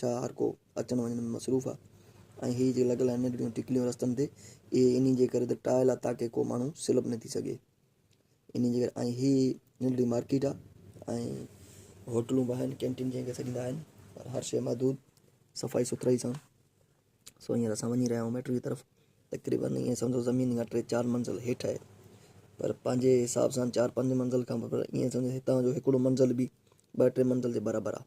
ڇا هر ڪو اچڻ وڃڻ ۾ مصروف آ ۽ هي جيڪي لڳل آهن ننڍڙيون ٽڪليون رستن تي اهي انهي جي ڪري ته ٽائل آ تاڪه ڪو ماڻهو سلپ نه ٿي سگهي انهي جي ڪري ۽ هي ننڍڙي مارڪيٽ آ ۽ هوٽلون به آهن ڪينٽين جنهن کي سڏيندا آهن پر هر شيء محدود صفائي سٿرائي سان سو هينئر اسان وڃي رهيا آهيون ميٽرو جي طرف تقريبن ائين سمجھو زمين کان ٽي چار منزل هيٺ آهي پر پنهنجي حساب سان چار پنج منزل کان پر ائين سمجھو هتان جو هڪڙو منزل به ٻه ٽي منزل جي برابر آهي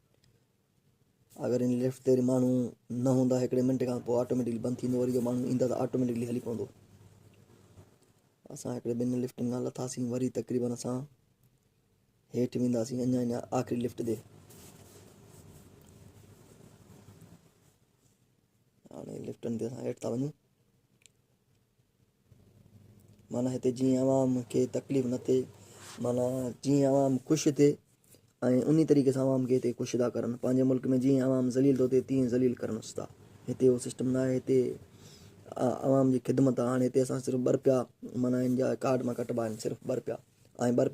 اگر ان لفٽ تي ماڻهو نه هوندا هڪڙي منٽ کان پوء آٽوميٽڪلي بند ٿيندو وري جو ماڻهو ايندا ته آٽوميٽڪلي هلي پوندو اسان هڪڙي ٻن لفٽن کان لٿاسين وري تقريبن اسان هيٺ وينداسين اڃا اڃا آخري لفٽ تي هاڻي لفٽن تي اسان هيٺ ٿا وڃون معنيٰ هتي جيئن عوام کي تڪليف نه ٿئي معنيٰ جيئن عوام خوش ٿئي ۽ انهي طريقي سان عوام کي هتي ڪشدا ڪرن پنهنجي ملڪ ۾ جيئن عوام ذليل ٿو ٿئي تيئن ذليل ڪرن استا هتي اهو سسٽم نه آهي هتي عوام جي خدمت هاڻي هتي اسان صرف ٻه رپيا معنيٰ هن جا ڪارڊ مان ڪٽبا آهن صرف ٻه رپيا ۽ ٻه رپيا